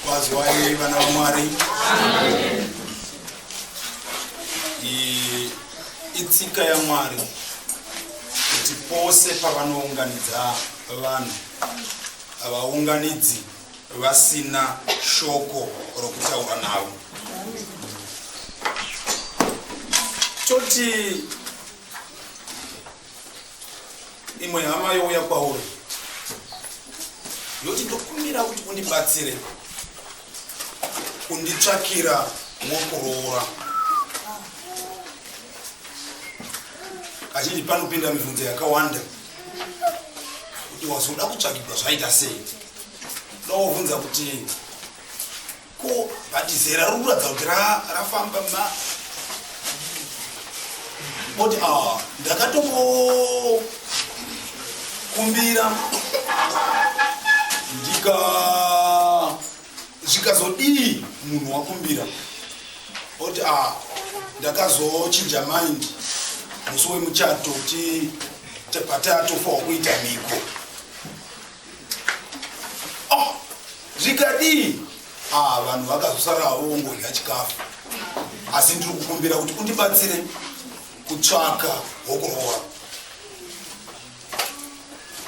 Wazwai vana vaMwari. Itsika yaMwari kuti pose pavanounganidza vanhu havaunganidzi vasina shoko rokutaura navo toti imwe hama youya kwauri yoti ndokumbira kuti undibatsire kunditsvakira wokuroora kazhinji panopinda mibvunzo yakawanda kuti wazoda kutsvakirwa zvaita sei ndoovhunza kuti Ko bhati zera riri kuratidza kuti rafamba ma oti ah, ndakatombokumbira ndika zvikazodii munhu wakumbira oti ah, ndakazochinja mind musi wemuchato ti patatofa wakuita mhiko Oh, zvikadii? Ah, vanhu vakazosara havo vongodya chikafu. Asi ndiri kukumbira kuti undibatsire kutsvaka hokuroora.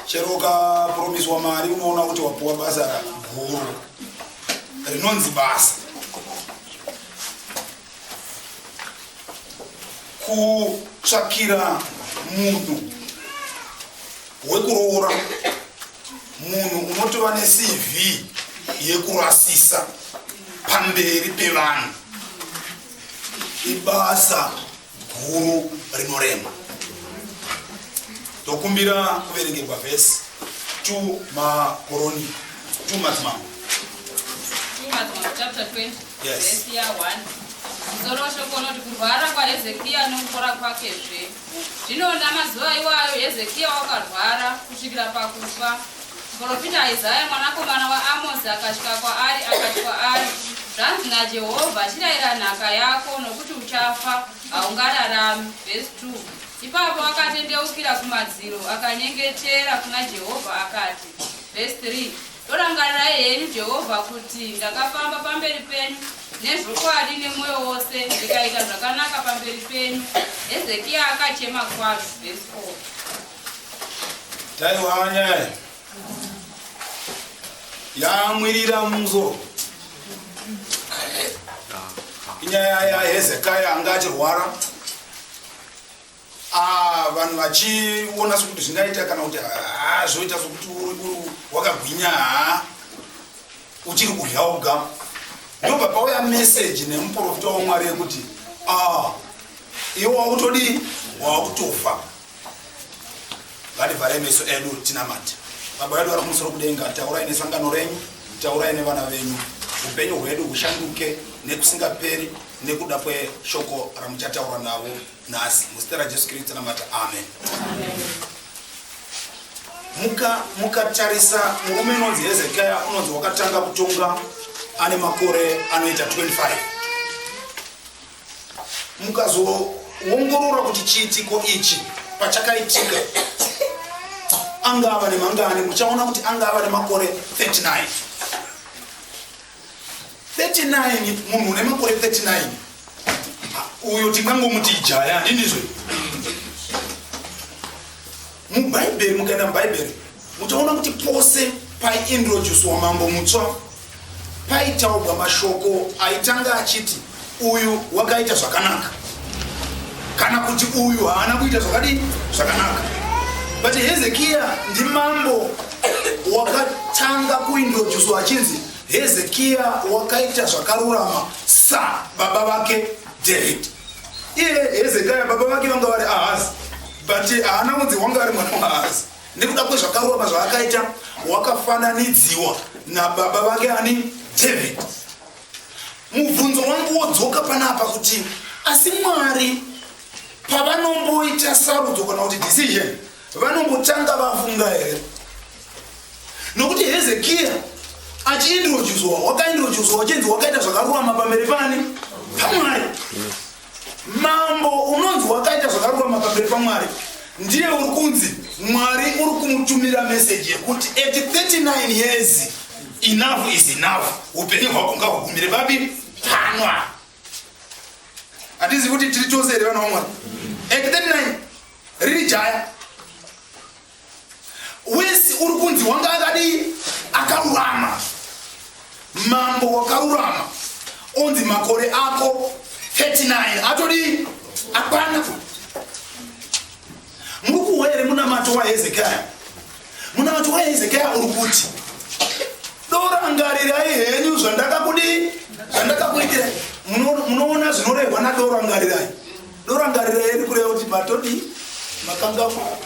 Chero ukapromiswa mari unoona kuti wapuwa basa guru rinonzi basa. kutsvakira munhu wekuroora munhu unotova necv yekurasisa pamberi pevanhu ibasa guru rinorema Tokumbira kuverengerwa vhesi to makoroni to madzimambo. To madzimambo chapter 20 yes. vhesi ya 1 musoro weshoko unoti kurwara kwahezekiya nokupora kwake zve zvino namazuva iwayo hezekiya wakarwara kusvikira pakufa muprofita isaya mwanakomana waamosi akasvika kwaari akati kwaari zvanzi najehovha chirayira nhaka yako nokuti uchafa haungararami vhesi 2 ipapo akatendeukira kumadziro akanyengetera kuna jehovha akati vhesi 3 dorangarirai henyu jehovha kuti ndakafamba pamberi penyu nezvokwadi nemwoyo wose ndikaita zvakanaka pamberi penyu hezekiya akachema kwazvo vhesi 4 taiwanyaya yamwirira mumusoro inyaya yahezekaya anga achirwara ah, vanhu vachiona sokuti zvingaita kana kuti ah, zvoita sokuti wakagwinya ah, uchiri kudya uga ndobva pauya meseji nemuprofita wamwari yekuti iwe wakutodii wakutofa ngativhare meso edu tinamate baba vedu vari kumusoro kudenga taurai nesangano renyu taurai nevana venyu upenyu hwedu hushanduke nekusingaperi nekuda kweshoko ramuchataura navo nhasi muzita rajesu kristu tinamate amen, amen. mukatarisa muka murume inonzi hezekiya unonzi wakatanga kutonga ane makore anoita 25 mukazoongorora kuti chiitiko ichi pachakaitika anga ava nemangani muchaona kuti anga ava nemakore 39 39 munhu une makore 39 uyo tingangomuti jaya handinizve Mubhaibheri, mukaenda mubhaibheri muchaona kuti pose paiintrodusiwa mambo mutswa paitaurwa mashoko aitanga achiti uyu wakaita zvakanaka kana kuti uyu haana kuita zvakadii zvakanaka but hezekiya ndimambo wakatanga kuintrodusiwa achinzi hezekiya wakaita zvakarurama sababa vake david iye hezekiya baba vake vanga vari ahazi but haana kunzi wanga ari mwana wahazi nekuda kwezvakarurama zvaakaita wakafananidziwa nababa vake ani david mubvunzo wangu wodzoka panapa kuti asi mwari pavanomboita sarudzo kana kuti decision vanombotanga vafunga here nokuti hezekiya achiindrojuzwa wakaindrojuzwa wachinzi wakaita zvakarurama pamberi pani pamwari Mambo unonzi wakaita zvakarurama pamberi paMwari ndiye uri kunzi Mwari uri kumutumira meseji yekuti at 39 years enough is enough, upenyu hwako ngahugumire babi panwa. Hatizi kuti tiri chose here vana vaMwari? At 39 riri jaya Wesi uri kunzi wanga akadii akarurama mambo wakarurama onzi makore ako 39 atodii akwana muri kuhwa here munamato wahezekiya munamato wahezekiya uri kuti dorangarirai henyu zvandakakudii zvandakakuitirai munoona zvinorehwa nadorangarirai Ndorangarira here kureva kuti matodii makangamwa?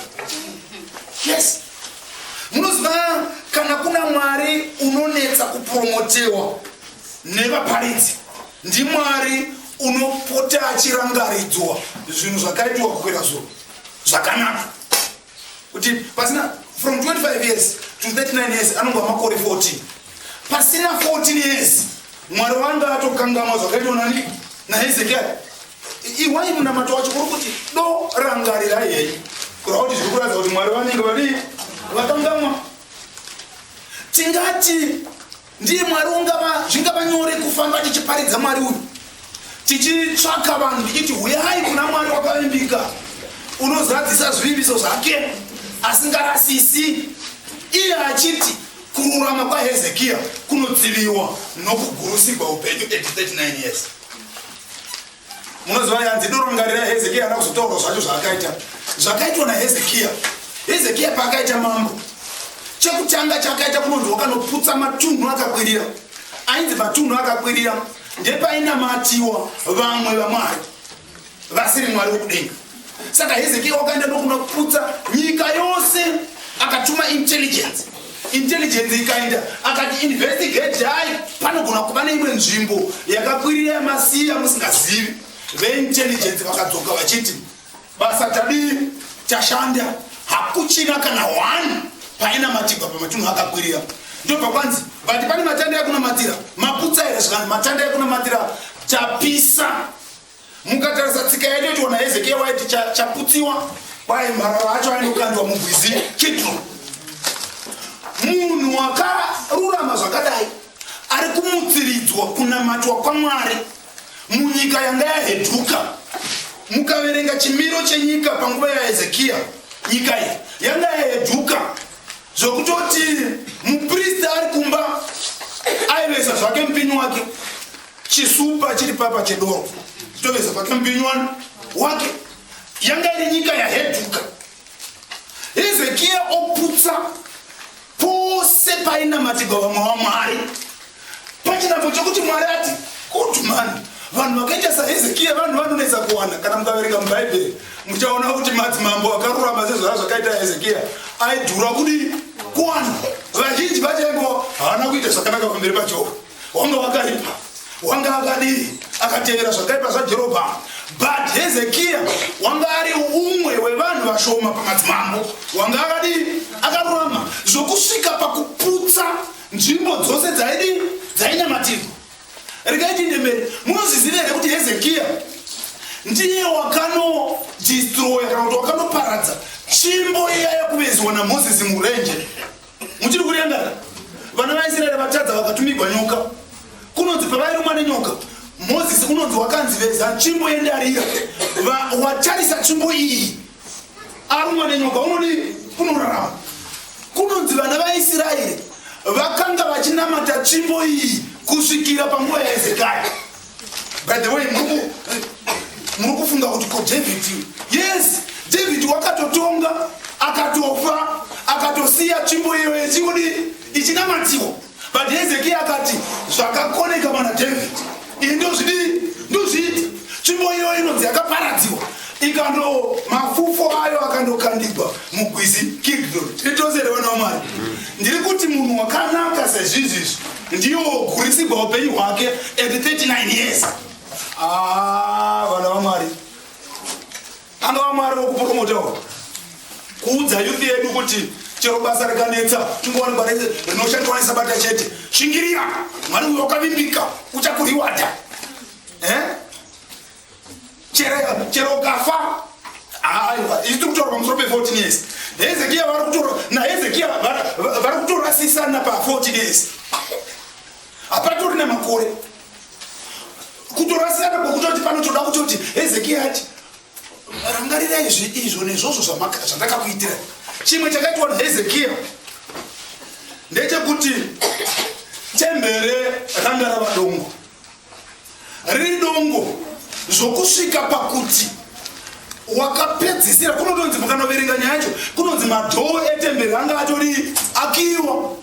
Yes. Munoziva kana kuna Mwari unonetsa kupromotewa nevaparidzi ndimwari unopota achirangaridzwa zvinhu zvakaitwa kukwira zuro zvakanaka kuti pasina from 25 years to 39 years anonga makore 14 pasina 14 years mwari wanga atokangamwa zvakaitwa nani nahezekia iwai munamato wacho kuri kuti do rangarira yei kurava kuti zviri kuratidza kuti mwari vanenge vadii vakangamwa tingati Ndiye Mwari ungava zvingava nyore kufamba tichiparidza Mwari uyu tichitsvaka vanhu tichiti huyai kuna Mwari wakavimbika unozadzisa zvivimbiso zvake asingarasisi iye achiti kururama kwahezekiya kunodziviwa nokugurusigwa upenyu 39 years munoziva yanzi doro mungarira hezekiya ana kuzotaura zvacho zvaakaita zvakaitwa nahezekiya hezekiya paakaita mambo chekutanga chakaita kunonzi wakanoputsa matunhu akakwirira ainzi matunhu akakwirira ndepainamatiwa vamwe vamwari vasiri mwari wekudenga Saka Hezekia wakaenda ndokuna kuputsa nyika yose, akatuma intelligence intelligence ikaenda akati investigate hai panogona kuva neimwe nzvimbo yakakwirira yamasiya musingazivi veintelligence vakadzoka vachiti basa tadii tashanda hakuchina kana one painamatigwa pamatunhu akakwirira ndobva kwanzi vati pane matanda ekunamatira maputsa here zvikanzi matanda ekunamatira tapisa mukatarisa tsika yedu yationa hezekiya waiti chaputsiwa kwaye mharara acho aine kukandwa mugwizi chitro munhu wakarurama zvakadai ari kumutsiridzwa kunamatwa kwamwari munyika yanga yaheduka mukaverenga chimiro chenyika panguva yahezekiya nyika iyi yanga yaheduka zvokutoti mupristi ari kumba aivesa zvake mupinyi wake Chisupa chiri papa chedoro chitoveza pake mupinywani wake. Yanga iri nyika yaheduka. Hezekia oputsa pose painamatigwa vamwe vamwari. Pachinako chokuti Mwari ati kuti mani vanhu vakaita sahezekia vanhu vanonetsa kuwana kana mukaverenga mubhaibheri muchaona kuti madzimambo akarurama sezvara zvakaita hezekia aidhura kudii kuwana vazhinji vachaingo havana kuita zvakanaka pamberi pajehova wanga wakaipa wanga akadii akatevera zvakaipa zvajerobhamu but hezekiya wanga ari umwe wevanhu vashoma pamadzimambo wanga akadii akarurama zvokusvika pakuputsa nzvimbo dzose dzaidii dzainamatirwa rikaiti ndemberi munozviziva here kuti hezekiya ndiye wakanodistroya kana kuti wakanoparadza tsvimbo iya yakuvezwa namozisi murenje muchiri kurengana vana vaisraeri vatadza vakatumigwa nyoka kunonzi pavairumwa nenyoka mozisi unonzi wakanzi veza tsvimbo yendarira watarisa tsvimbo iyi arumwa nenyoka unodii unorarama kunonzi vana vaisraeri vakanga vachinamata tsvimbo iyi kusvikira panguva yaezekaya by the way muri kufunga kuti ko david yes david wakatotonga akatofa akatosiya tsvimbo iyo yechikudi ichinamatiwa but hezekiya akati zvakakoneka mana david iyi ndozvidii ndozviita tsvimbo iyo inonzi yakaparadziwa ikando mafufo ayo akandokandigwa mugwizi kidron titozerevanamwari ndiri kuti munhu wakanaka sezvizvizvi ndiyo wogurisirwa upenyu hwake at 39 years ah, vana vamwari anga vamwari vokupromotawo kuudza yuthi yedu kuti chero basa rikanetsa tingowanikwa rese rinoshandiswa nesabata chete shingirira mwari uyo wakavimbika uchakurewada eh? chero chero ukafa aiwa isu tiri kutaura pamusoro pe14 years hezekiya vari kutora nahezekiya vari kutorasisana pa14 years hapatori nemakore kutorasisana kwokutoti panotoda kutoti hezekiya ati rangarira izvi izvo nezvozvo zvandakakuitira chimwe chakaitwa nahezekiya ndechekuti tembere ranga rava dongo redongo zvokusvika pakuti wakapedzisira kunotonzi mukanoverenga nyaya yacho kunonzi madhoo etemberi anga atori akiwa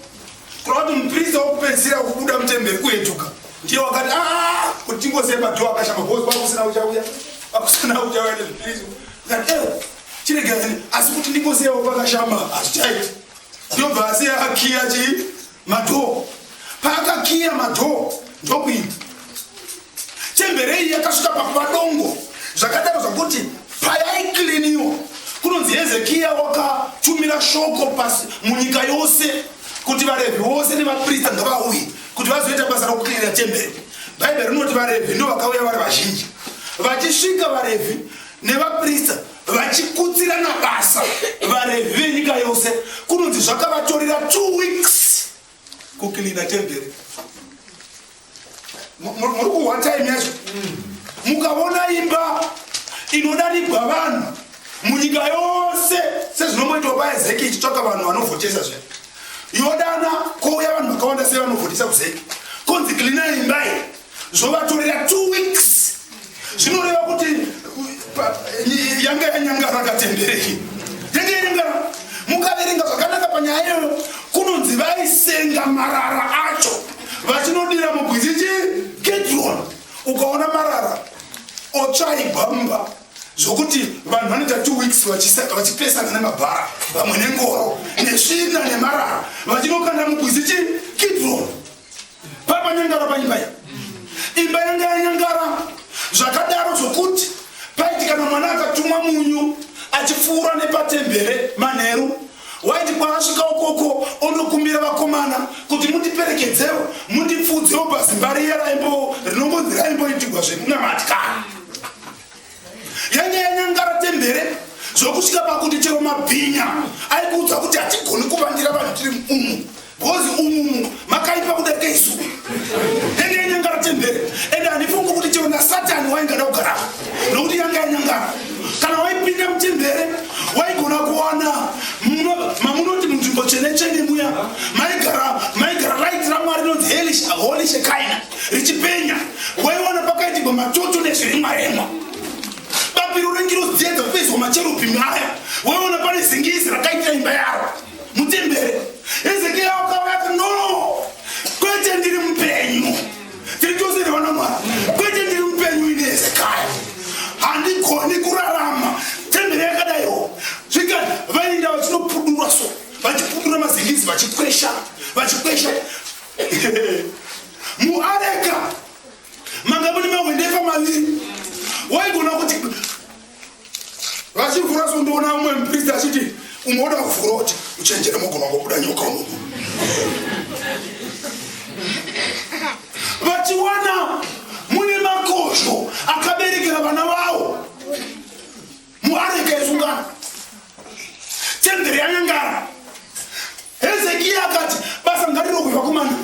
kurava kuti muprista wokupedzisira kubuda mutemberi kuetuka ndiye wakati aa ah, kuti tingose madhoo akashama bos vakusina uchauya vakusina uchauya nezvipriso kati ewo eh, chiregerani asi kuti ndingoseyawo pakashama hazvichaiti ndobva asi akiya chii Madhoo. Paakakiya madhoo ndokuyini. Chembere iyi yakasvika pakuva dongo zvakadaro zvakuti payaikiliniwa kunonzi Hezekiya wakatumira shoko pasi munyika yose kuti vaRevhi vose nevaprista ngavauye kuti vazoita basa rokukilina chembere. Bhaibheri rinoti vaRevhi ndovakauya vari vazhinji. Vachisvika vaRevhi nevaprista vachikutsirana basa varevi venyika yose kunonzi zvakavatorera two weeks kukilina temberi muri kuhwa time yacho mukaona imba inodarigwa vanhu munyika yose sezvinomboitwa paezeki ichitsvaka vanhu vanovhotesa zve yodana kouya vanhu vakawanda sei vanovhotesa kuzeki konzi kilina imba iyi zvovatorera two weeks zvinoreva kuti yanga yanyangara katembereki yanga yanyangara mukaverenga zvakanaka panyaya iyoyo kunonzi vaisenga marara acho vachinodira mugwizi chi gedron ukaona marara otsvaigwa mumba zvokuti vanhu vanoita two weeks vachipesana nemabhara vamwe nengoro nesvina nemarara vachinokanda mugwizi chi gedron Papanyangara paimba iyi. Imba yanga yanyangara zvakadaro zvokuti paiti kana mwana akatumwa munyu achipfuura nepatembere manheru waiti kwaasvika ukoko ondokumbira vakomana kuti mundiperekedzewo mundipfuudzewo pazimba riya raimbo rinongonzi raimboitigwa zvekunamatikana yanga yanyangara tembere zvokusvika pakuti chero mabhinya aikuudza kuti hatigoni kuvandira vanhu tiri umu bhozi umumu makaipa kudarika isu yanga yanyangara tembere ende handifungi kuti chero nasatani waingada kugara nokuti yanga yanyangara kana waipinda mutembere waigona kuwana mamunoti munzvimbo chene chene muya maigara maigara right ramwari inonzi holish kaina richipenya waiwana pakaitigwa matoto nezviremwa remwa bapiro rengirozi dziya dzakupedzwa macherubhimi aya waiwana pane zingizi rakaitira imba yaro mutembere ezekiya wakauya ati no kwete ndiri mupenyu tiri tose nevana mwari kwete ndiri mupenyu ine ezekaya handigoni kurarama tembere yakadaiwo zvika vaienda vachinopudurwa so vachipudura mazingizi vachikwesha vachikwesha muareka manga mune mahwendefa maviri waigona kuti vachivhura so ndoona umwe mupristi achiti umwe oda kuvhura kuti uchenjere mogona ngobuda nyoka unoku vachiwana mune makozho akaberekera vana vavo muareka yesungano temberi yanyangara hezekiya akati basa ngariro kuva kumana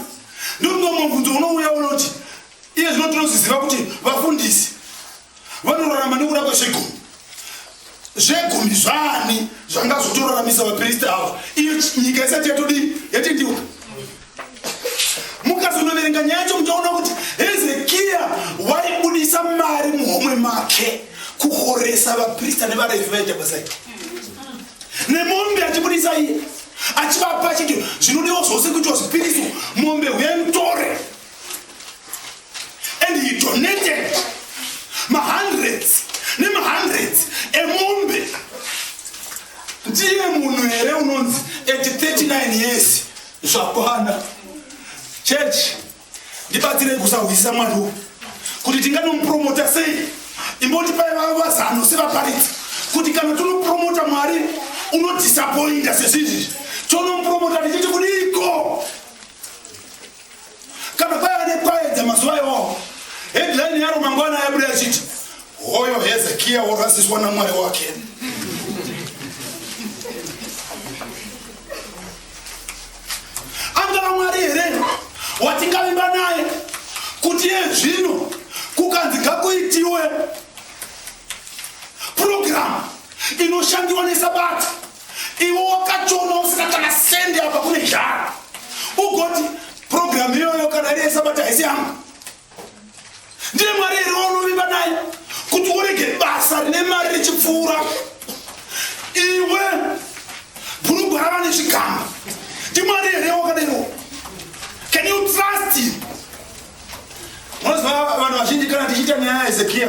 ndomumwe mubvunzo unouya unoti iye zvino tinoziziva kuti vafundisi vanorarama nekuda kwezvegumi zvegumi zvaani zvangazotoraramisa vapristi ava iyo nyika isati yatodii yatendeuka mukazonoverenga nyaya yacho muchaona kuti hezekiya waibudisa mari muhomwe make kuhoresa vaprista nevarevi vaita basa ito nemombe achibudisa iye achivapa chiti zvinodiwa zvose kuitwa zvipiriso mombe huya mutore and he donated mahundreds nemahundreds emombe ndiye munhu here unonzi at 39 years Zvakwana. Church ndibatsirei kusahwisisa mwari uyu kuti tinganomupromota sei imbotipai vavo vazano sevaparidzi kuti kana tonopromota mwari unodhisapoinda sezvizvi tonomupromota tichiti kudiiko Kana kwaiva nekwayedza mazuva iwawo, headline yaro mangwana yabuda yachiti hoyo Hezekia worasiswa naMwari wake. Angava Mwari here watingavimba naye kuti iye zvino kukanzi ngakuitiwe purogiramu inoshandiwa nesabata iwe wakachoma usina kana sendi apa kune zhara ugoti programu iyoyo kana iri yesabata haisi yangu ndiye mwari here waunovimba naye kuti urege basa rine mari richipfuura iwe bhurugwa rava nechigamba ndimwari here wakadaiwo can you trust him unoziva vanhu vazhinji kana tichiita nyaya yezekiya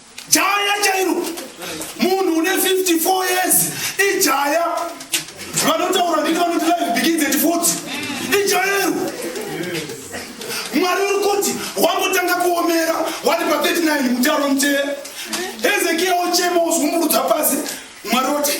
Jaya chairo munhu une 54 years ijaya vanotaura ndini vanoti life begins at 40 ijairo mwari uri kuti wambotanga kuomera wari pa 39 mutaro mutee hezekiya ochema wozumburudza pasi mwari oti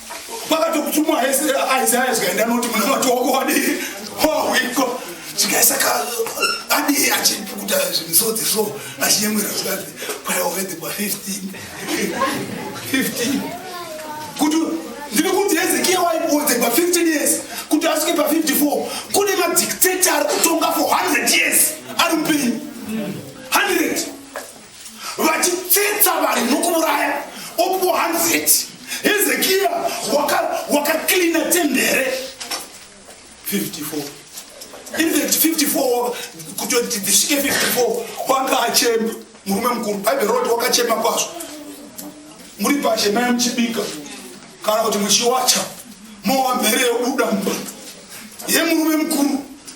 vakatokutumwa isaya zvikaenda noti muna vati wako wadii hoiko zvikaisa ka adii achipukuta zvimisodzi so achinyemwera zvikazi kwayaovede kwa 15 15 kuti ndiri kuti hezekiya waibuodze pa 15 years kuti asvike pa 54 kune madictator ari kutonga for 100 years ari mupenyu 100 vachitsetsa vanhu nokuuraya opo hanzeti hezekiya wakaklina waka tende here 54 54 kuti dzisvike 54 wanga achema murume mukuru bhaibheri roti wakachema kwazvo muri pashe mai muchibika kana kuti muchiwacha mowamhere yobuda mumba yemurume mukuru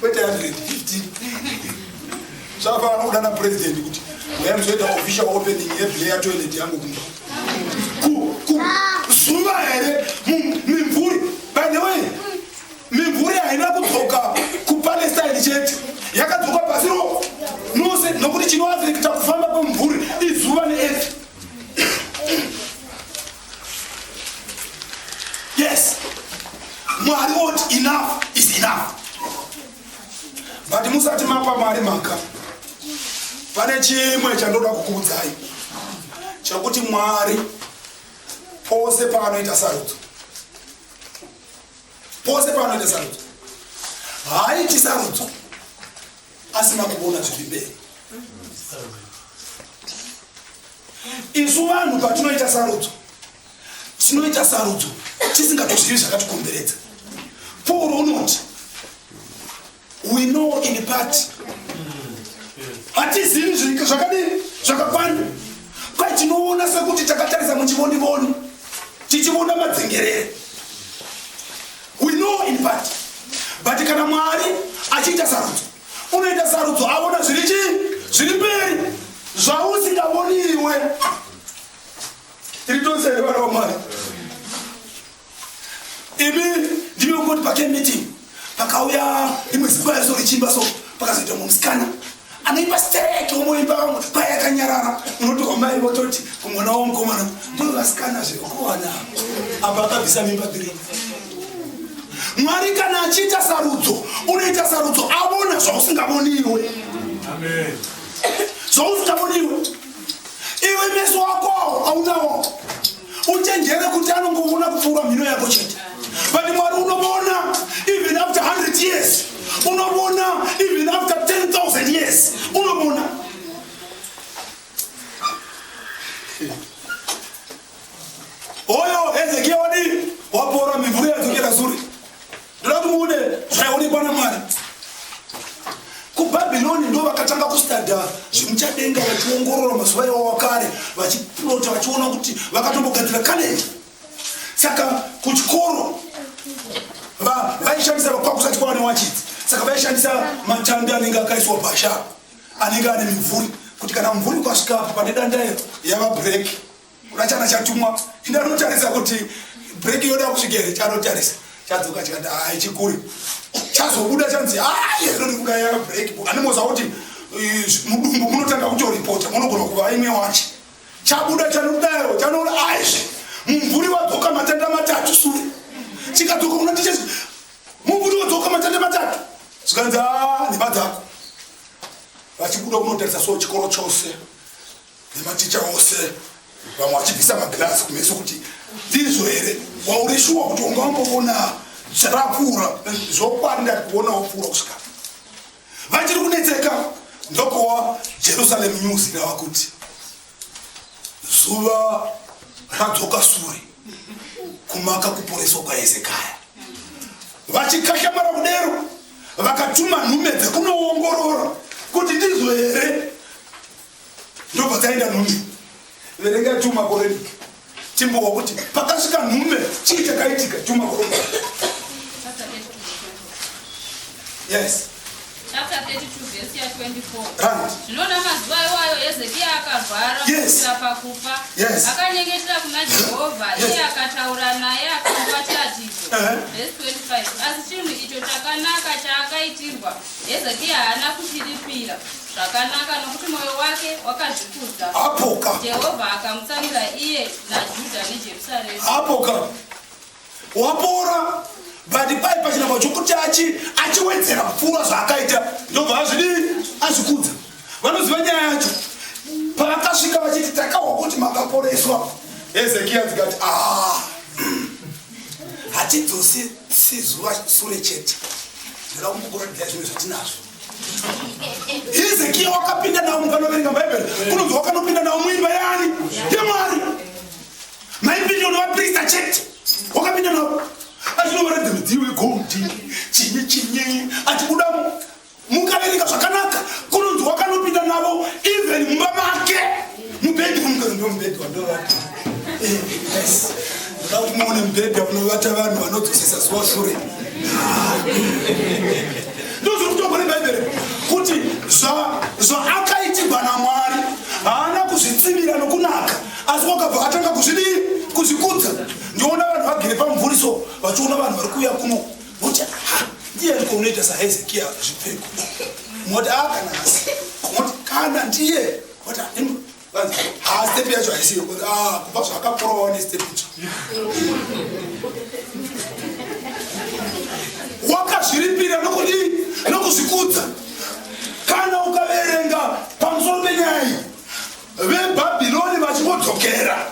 kwete 150 zvava vanoda na president kuti yaizoita official opening yeplayer toilet yangu kumba zuva here mimvuri by the way mimvuri haina kudzoka kupalestine chete yakadzoka pasi ro nose nokuti chinoafekta kufamba kwemvuri izuva neefi yes mwari woti enough is enough but musati mapa mwari mhaka pane chimwe chandoda kukuudzai chekuti mwari pose paanoita sarudzo pose paanoita sarudzo haaiti sarudzo asina kuona zviri mberi Isu vanhu patinoita sarudzo, tinoita sarudzo tisingatozivi zvakatikomberedza. Paul unoti we know in part, hatizivi zvakadini zvakakwana, kwai tinoona sekuti takatarisa muchivonivoni tichivona madzengerere. We know in part, but kana Mwari achiita sarudzo unoita sarudzo aona zviri chii zviri mberi zvausingavoni iwe tiri tose here vana vamwari imi ndimi vekungoti pake meeting pakauya imwe zikuva yaso richimba so pakazoita mumwe musikana anoimba stereke umoimba vamwe paya yakanyarara unotoka mai vototi kumwana wamukomana ndoo vasikana zvekuwana apa akabvisa mimba dhiri mwari kana achiita sarudzo unoita sarudzo avona zvausingavoni iwe zvausingavoni iwe iwe meso wako aunawo uchenjere kuti anongovona kupfuura mhino yako chete but mwari unovona even after 100 years unovona even after 10000 years unovona Oyo Hezekia wadii? Wapora mimvuri yadzokera sure. Ndoda kumuone zvaionekwa naMwari. KuBhabhironi ndo vakatanga kustadha zvemuchadenga vachiongorora mazuva iwo wakare vachiplota vachiona kuti vakatombogadzira kale. Saka kuchikoro vaishandisa vakwakusati kwava newachidzi saka vaishandisa matanda anenge akaiswa bhasha anenge ane mimvuri kuti kana mumvuri ukasvikapo pane danda iro yava breki kuna chana chatumwa inda anotarisa kuti breki yoda kusvika here chanotarisa chadzoka chikati hai chikuri chazobuda chanzi hai inonikuda yava breki animoza kuti mudumbu munotanga kutoripota munogona kuva imwe wacho chabuda chanodaro chanoona aizvi mumvuri wadzoka matenda matatu sure chikadzoka kuna tichesi Muburi wodzoka matende matatu. Zvikanzi haa nhema dzako. Vachibuda kunotarisa so chikoro chose nematicha ose vamwe vachibvisa magirasi kumeso kuti ndizvo here wauri shuwa kuti wanga wamboona zvarakura zvokwadi ndati kuona wapfuura kusvika vachiri kunetseka ndokowa jerusalem news irava kuti zuva radzoka sure kumaka kuporeswa kwaezekaya vachikashamara kudero vakatuma nhume dzekunoongorora kuti ndizvo here ndobva dzaenda nhunyu verenga tuma koreni Chimbowa kuti pakasvika nhume chii chakaitika chuma kuropa. Yes. Chapter 32 verse ya 24. Right. Zvinoda mazuva iwayo Hezekia akarwara Yes. kusvika pakufa. Yes. Akanyengetera kuna Jehovha, Yes. iye akataura naye akamupa chiratidzo. Uh-huh. Verse 25. Asi chinhu icho chakanaka chaakaitirwa Hezekia haana kuchiripira zvakanaka nokuti mwoyo wake wakazvikudza. Apoka. Jehovha akamutsamira iye naJudha neJerusarema. Apoka. Wapora bati pai pachinangwa chokuti achi achiwedzera kupfuura zvaakaita ndobva azvidii azvikudza vanoziva nyaya yacho paakasvika vachiti takahwa kuti makaporeswa hezekiya dzikati ah hatidzosi sizuva sure chete ndoda kumbokuratidza zvinhu zvatinazvo hezekiya wakapinda nawo munhu anoverenga bhaibheri kunonzi wakanopinda nawo muimba yaani yemwari maipinda unovaprista chete wakapinda nawo achinovaratidza midziyo yegondi chinyi chinyi achibuda mukabereka zvakanaka kunonzi wakanopinda navo even mumba make mubhedhi wamukanondiwa mubhedhi wandovata eh, yes ndoda kuti muone mubhedhi wakunovata vanhu vanodzosesa zuva shure ndozvokutongwa nebhaibheri kuti zvaakaitigwa namwari haana kuzvitsimira nokunaka asi wakabva atanga kuzvidii kuzvikudza ndiona vanhu vagere pamumvuri so vachiona vanhu vari kuuya kuno Moti aha, ndiye ndiko unoita saHezekia zvipfeko. Moti aha kana hasi. Moti kana ndiye. Moti hanimo. Vanzi, haa step yacho haisiyo. Moti aha, kubva zvakaporawa ne step icho. Wakazviripira nokuti nokuzvikudza. Kana ukaverenga pamusoro penyaya iyi. vebhabhironi vachingodzokera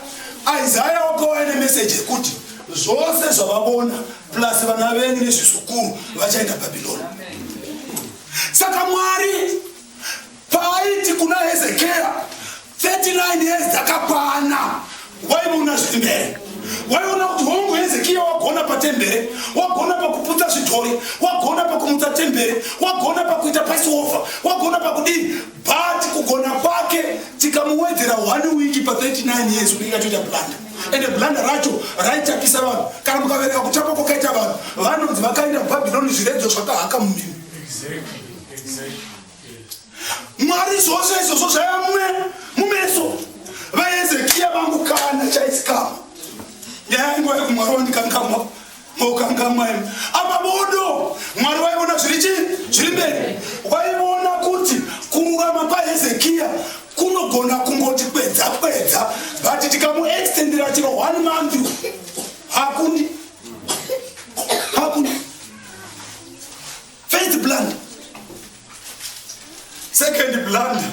isaya wake waine meseji yekuti zvose zvavavona plus vana venyu nezvizukuru vachaenda bhabhironi saka mwari paaiti kuna hezekiya 39 years dzakakwana waiona zviri mbere waiona kuti hongu hezekiya wagona patembere wagona pakuputsa zvidhori wagona pakumutsa tembere wagona pakuita pasiova wagona pakudii But kugona kwake tikamuwedzera one week pa 39 years unenge atoita blunder ende blunder racho raitapisa vanhu kana mukavereka kutapa kwakaita vanhu vanonzi vakaenda kubhabhironi zviredzo zvakahaka mumini mwari zvose izvozvo zvaiva mumwe mumeso vaezekiya vangu kana chaitsikama nyaya yangu yaikumwari wandikangamwa Mokangamwa imi. Apa bodo Mwari waiona zviri chi zviri mberi. Waiona kuti kururama kwaHezekia kunogona kungoti kwedza kwedza but tikamuextendera chero one month hakuni hakuni first blunder second blunder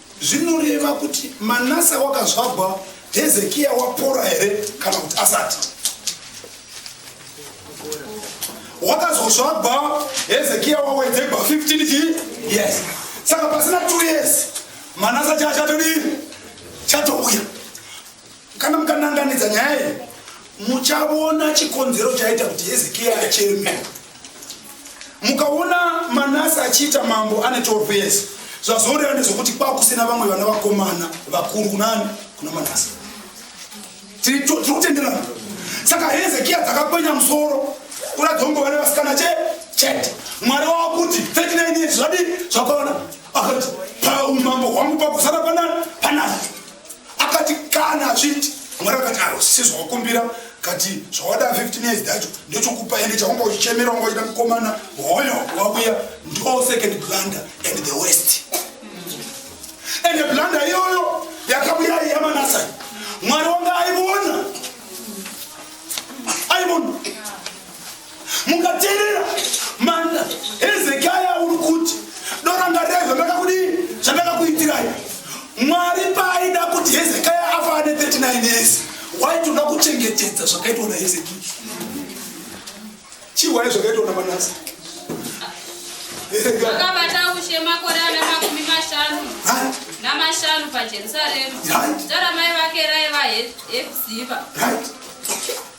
Zvinoreva kuti Manase wakazvagwa Hezekia wapora here kana kuti asati? Wakazozvagwa Hezekia wawedzegwa 15 chii? Yes. Saka pasina 2 years Manase chachatodii? Chatouya. Kana mukananganidza nyaya iyi muchaona chikonzero chaita kuti Hezekia acherme. Mukaona Manase achiita mambo ane 12 years zvazoreva nezvokuti kwakusina vamwe vana vakomana vakuru kunani kuna Manase. Tiri kutenderana. Saka Hezekia dzakakwenya musoro kuratidza kunge vane vasikana che chete. Mwari wava kuti 39 years zvadii zvakaona akati paumambo hwangu pakusara panani panani akati kana achiti mwari akati aro sezvawakumbira kati zvawada 15 years dacho ndochokupa ende chawanga uchichemera wanga uchida mukomana hoyo wakuya ndo second blunder and the west and the blunder iyoyo yakabuya yamanasai mwari wanga aivona aivona mukateerera manda hezekiya uri kuti dorangarirei zvandakakudii zvandakakuitirai mwari paaida kuti hezekiya afa ane 39 years waitoda kuchengetedza zvakaitwa nahezekiya chiwai zvakaitwa namanasi akabata ushe makore ana makumi mashanu namashanu pajerusarema zita ramai vake raiva hepziva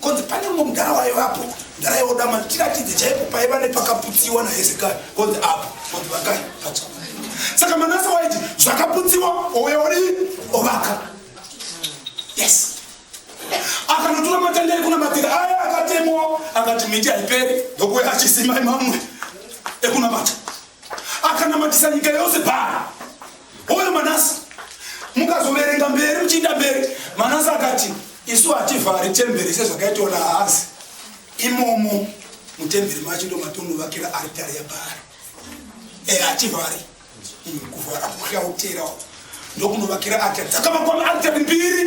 Konzi pane mumwe mudhara waivapo mudhara yodama ndichiratidze chaipo paiva nepakaputsiwa nahezekai konzi apo konzi vakai pacha saka manase waiti zvakaputsiwa oweori ovaka yes akanotora matendere kuna matiri aya akatemwa akati miti haiperi ndokuya achisimai mamwe ekunamata akanamatisa nyika yose baa Hoyo Manase mukazoverenga mberi muchiinda mberi Manase akati isu hativhari temberi sezvakaitwa naAhazi imomo mutemberi macho ndomatonovakira aritari yaBhaari eh, hativhari mm, kuvhara kuhlautera ndokunovakira aritari dzakavakwa aritari mbiri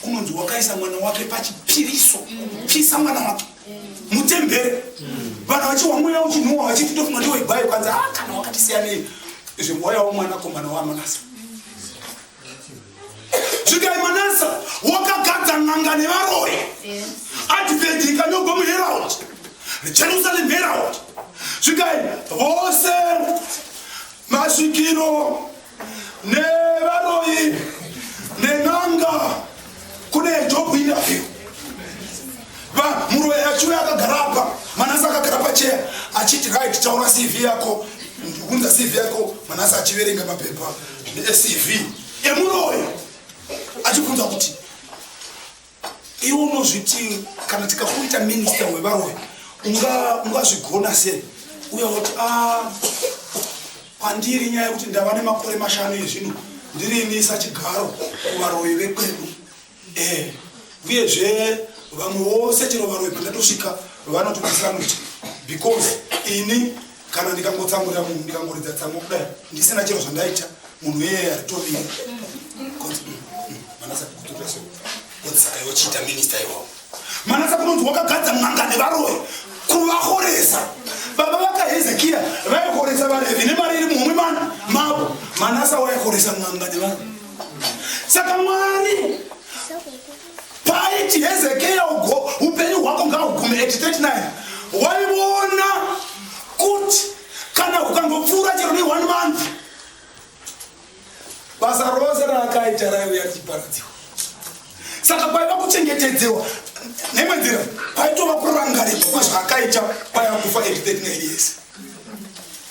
kunonzi wakaisa mwana wake pachipiriso kupisa mwana wake mutembere vanhu vachiwa mweya uchinhuwa vachiti tofunga ndiwo igwayo kwanzi a ah, kana wakatisiyanei izvi mweya womwana komana wamanasa zvikai manasa wakagadza n'anga nevaroi advent ikanyogwa muherald jerusalem herald zvikai vose masvikiro nevaroyi nen'anga kune job interview muroyi achiuya akagara apa manasi akagara pacheya achiti right taura cv yako ndikunza cv yako manasi achiverenga mapepa necv emuroyi achibvunza kuti Iwe unozviti kana tikakuita minister wevaroyi ungazvigona sei uya woti a ah, pandiri nyaya yekuti ndava nemakore mashanu ezvino ndiri ini sachigaro kuvaroyi vekwedu eh, uyezve vamwe vose chero varoyi pandatosvika vanotodisa muti because ini kana ndikangotsamurira munhu ndikangoridza tsamwa kudai ndisina chero zvandaita munhu iyeye aritovire saka yochiita minista iwawo manasa kunonzi wakagadza n'anga nevaroyi kuvahoresa baba vakahezekiya vaihoresa varevi nemari iri muhomwe mana mavo manasa waihoresa n'anga nevanhu saka mwari Paiti Hezekia upenyu hwako ngahugume at 39 waiona kuti kana ukangopfuura chero ne one month basa rose raakaita raiuya richiparadziwa saka paiva kuchengetedzewa nemwe nzira paitova kurangarirwa kwezvaakaita paya kufa at 39 years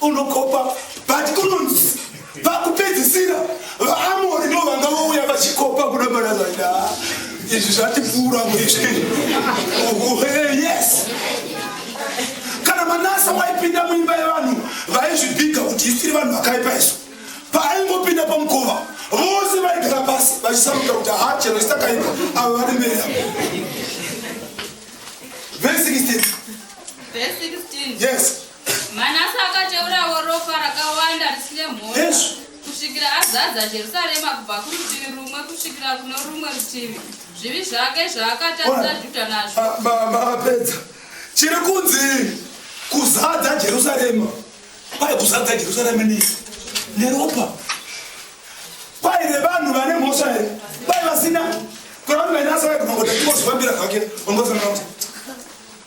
unokopa but kunonzi vakupedzisira vaamori ndo vanga vouya vachikopa kuda mana zvaida izvi zvatipfuura muizvi yes kana manasa waipinda muimba yevanhu vaizvibhiga kuti isiri vanhu vakaipa isu paaingopinda pamukova vose vaigara pasi vachisaruka kuti haa chero isakaipa avo vari mberi avo vese 16 vese 16 yes Manase akateurawo ropa rakawanda risine mhosva kusvikira azadza Jerusarema kubva kurutivi rumwe kusvikira kuno rumwe rutivi zvivi zvake zvaakatarisa Judha nazvo. Mapedza chiri kunzi kuzadza Jerusarema kwai kuzadza Jerusarema nei neropa kwai revanhu vane mhosva here kwai vasina kwevanhu vainasa vaigona kuti kuzvifambira zvake vangosana kuti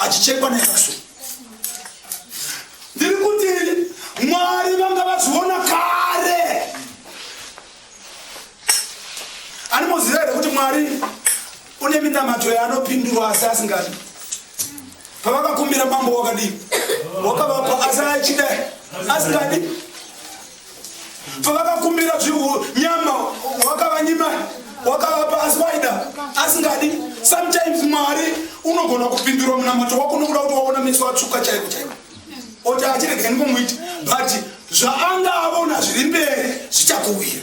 achichekwa nesaxo ndiri kuti mwari vanga vazviona kare animoziva here kuti mwari une minamato yaanopindurwa asi asingadi pavakakumbira mambo wakadii wakavapa asi achida asingadi pavakakumbira zvihu nyama wakavanyima wakavapa asi waida asingadi sometimes mwari unogona kupindura munamato wako nokuda kuti waona meso atsvuka chaiko chaiko oti achirega ndikomuiti but zvaanga avona zviri mberi zvichakuwira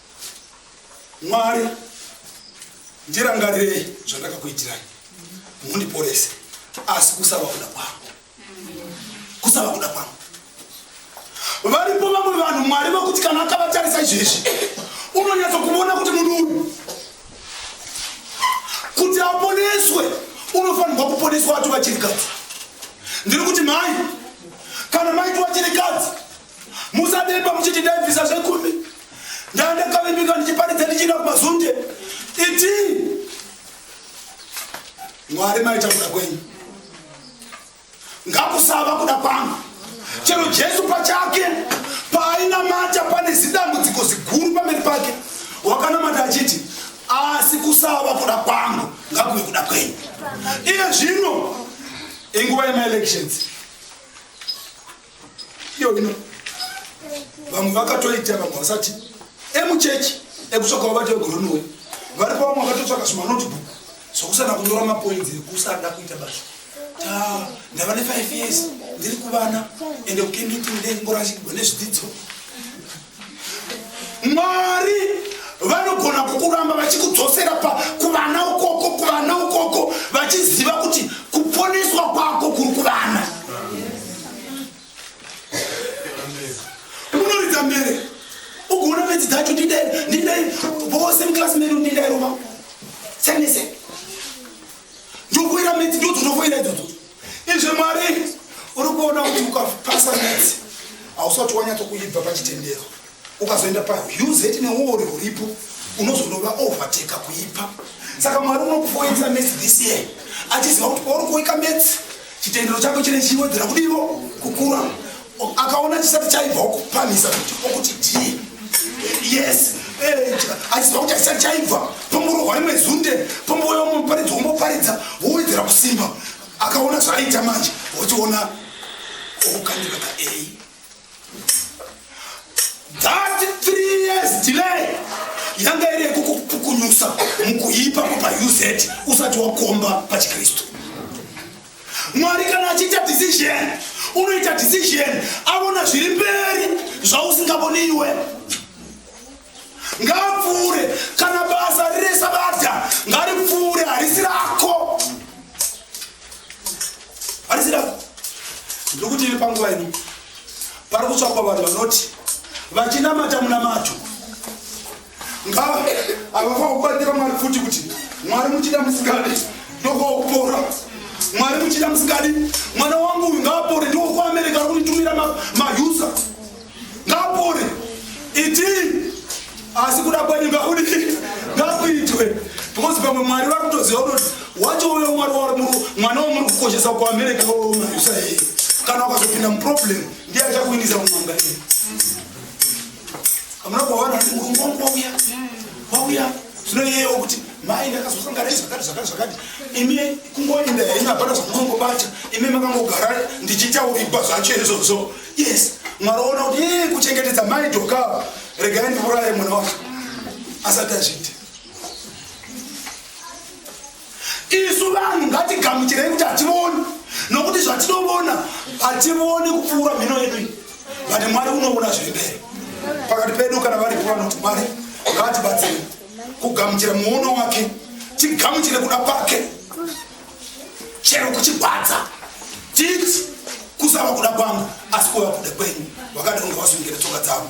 Mwari, ndirangarirei zvandakakuitirai, mundiporese, asi kusava kuda kwangu, kusava kuda kwangu. Varipo vamwe vanhu Mwari vakuti kana akavatarisa izvezvi unonyatso kuvona kuti munhu uyu kuti aponeswe unofanirwa kuponeswa ati vachirikadzi ndiri kuti mhai kana maiti vachirikadzi Musademba muchiti ndaibvisa zvekumi ndandakavimbika ndichiparidza ndichienda kumazunde iti mwari maita kuda kwenyu ngakusava kuda kwangu chero jesu pachake paainamata pane zidambudziko ziguru pamberi pake wakanamata achiti asi kusava kuda kwangu ngakuve kuda kwenyu iye zvino inguva yemaelections Iyo ino vamwe vakatoita vamwe vasati emuchechi ekutsvaka vabati vegoronowe varipo vamwe vakatotsvaka zvimanotebook zvokusana kunyora mapoinzi ekusada kuita basa ta ndava ne five years ndiri kuvana ende kukenditi ndengorashikirwa nezvidzidzo Mwari vanogona kukuramba vachikudzosera pa kuvana ukoko kuvana ukoko vachiziva kuti kuponeswa kwako kuri kuvana. Unoridza mbere ugoona bedzi dzacho ndidai ndidai vose muklasi medu ndidai rova senese ndokuira medzi ndodzo ndokuira idzodzo Izvi Mwari uri kuona kuti ukapasa metsi hausati wanyatso kuibva pachitendero ukazoenda pahuzeti neuori huripo unozonova overteka kuipa saka mwari unokufoisa mesi this year achiziva kuti pauri kuika metsi chitendero chako chine chiwedzera kudivo kukura akaona chisati chaibva okupamisa kuti okuti ndiye yes eh, achiziva kuti achisati chaibva pomorohwa rimwe zunde pombouya umwe muparidzi womboparidza wowedzera kusimba akaona zvaaita manje ochiona okukandira ka a that three years delay yanga iri yekukupukunyusa mukuipa kupa uz usati wakomba pachikristu Mwari kana achiita decision, unoita decision avona zviri mberi zvausingavoni iwe. Ngapfuure kana basa riri sabata ngaripfuure harisi rako. Harisi rako. Ndiri kuti iri panguva ino pari kutsvakwa vanhu vanoti vachinamata munamato Ngava avafa kubatira Mwari futi kuti Mwari muchida musikadi ndokwaupora Mwari muchida musikadi mwana wangu uyu ngaapore ndiwo kuAmerica arikunditumira mahusa ngaapore iti asi kuda kwenyu ngakudi ngakuitwe because pamwe Mwari vari kutoziva kuti wacho uyo Mwari wari mwana wamuri kukoshesa kuAmerica uyo mahusa iye kana wakazopinda muproblem ndiye achakuinisa mumanga iye Amuna kuona kuti murungu wangu wauya. Wauya. Zvino iyeyo kuti mai ndakazosangana izvakati zvakati zvakati. Imi kungoenda henyu hapana zvamunongobata. Imi makangogara ndichitaurigwa zvacho izvozvo. Yes. Mwari ona kuti ee kuchengetedza mai doka. Regai ndiuraye mwana wacho. Asati azviita. isu vanhu ngatigamuchirei kuti hativoni nokuti zvatinovona hativoni kupfuura mhino yedu iyi but mwari unovona zviri mberi pakati pedu kana varipo vanoti mwari ngatibatsire kugamuchira muono wake tigamuchire kuda kwake chero kuchigwadza titi kusava kuda kwangu asi kuva kuda kwenyu vakadonga vasungira tsoka dzavo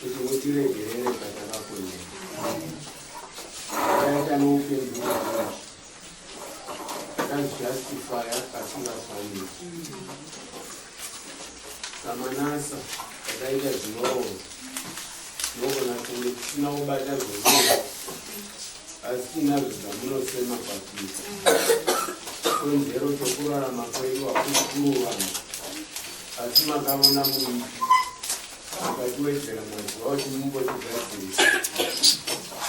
kuti mutiregerere patakaponera akaita noupenyu akazvijustifya pasingafaniri samanasa akaita zvinoo nogona kunge tisina kubata zvoruo asi tinazvo zvamunosema kwatiri konzero chokurarama kwedu hakusi kurovana Asi makaona munhu akatiwedzera mazuva kuti mumbotigadzirisa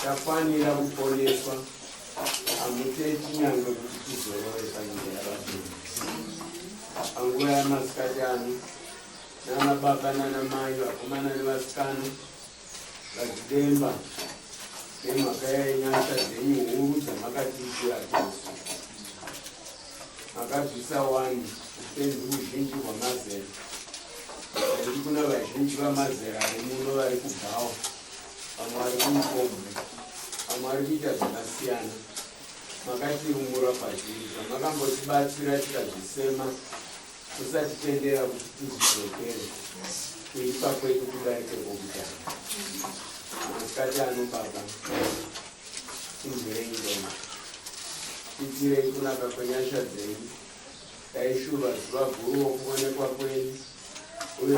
tafanira kuponeswa hamuteti nyange kuti tizorore panyika yavapenyu panguva yamasikati ano nanababa nanamai vakomana nevasikana Madzidemba nemhaka yenyasha dzenyu huru dzamakatiitira tose makabvisa wani upenzi uzhinji hwamazera aiti kuna vazhinji vamazera ari muno vari kubhawa vamwe vari kumukombwe vamwe vari kuita zvakasiyana makatiumura pazvinhu zvamakambotibatsira tikazvisema Usatitendera kuti tizidzokere kuipa kwedu kudarike kwokutanga. Masikati ano Baba, tinzwirei ngoma, titirei kunaka kwenyasha dzenyu, dai shuva zuva guru wokuonekwa kwenyu uye